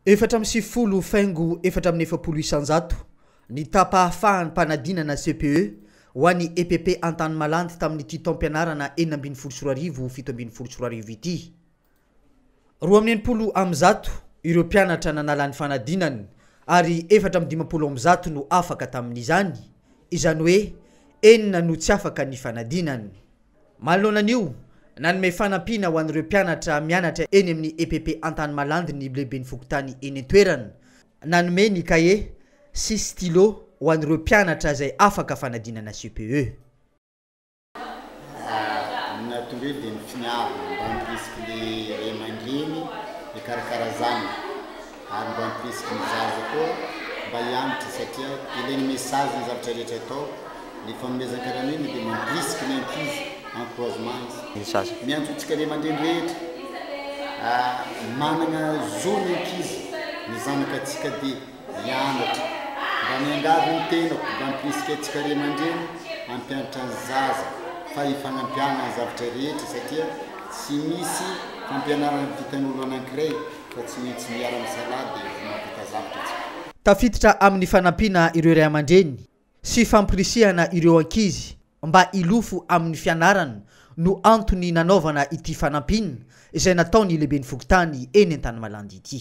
Efatra amby sivifolo faingo efatra amby efapolo isanjato ny tapahafaham-panadinana CPE ho an'ny EPP Antanimalandy tamin'ity taom-pianarana enina ambin'ny folo sy roa arivo fito ambin'ny folo sy roa arivo ity. Roa amby enimpolo amby zato ireo mpianatra nanala ny fanadinany ary efatra amby dimampolo amby zato no afaka tamin'izany, izany hoe enina no tsy afaka ny fanadinany. Manoloana an'io, nanome fanampiana ho an'ireo mpianatra mianatra eny amin'ny EPP Antanimalandy ny lehiben'ny fokontany eny an-toerana. Nanome ny kahie sy stylo ho an'ireo mpianatra izay afaka fanadinana CPE. Raha ny nahtonga io dia ny finiavana mba handrisiko ny ray aman-dreny hikarakara zanaka. ary mba ampirisiko ny zaza koa mba hianatra satria ilain'ny message ny zavatra rehetra atao, ny fanomezan-karamiana dia mampirisika ny ankizy, encouragement izy. Ny zaza. Miantso antsika ry aman-dreny rehetra fa manana zo ny ankizy, ny zanakatsika dia hianatra, mba miangavy ny tenako mba ampirisika antsika ry aman-dreny hampianatra ny zaza fa hifagnampihagna ny zavatra rehetra satria tsy misy fampianarana vitan'olo anankiray, fa tsy mintsy miara misalahy de efa mampita zavtra tsika. Tafiditra amin'ny fanampiana ireo ray aman-dreny sy fampirisihana ireo ankizy mba hilofo amin'ny fianarana no antony nanaovana ity fanampiana izay nataon'ny lehiben'ny fokontany eny Antanimalandy ity.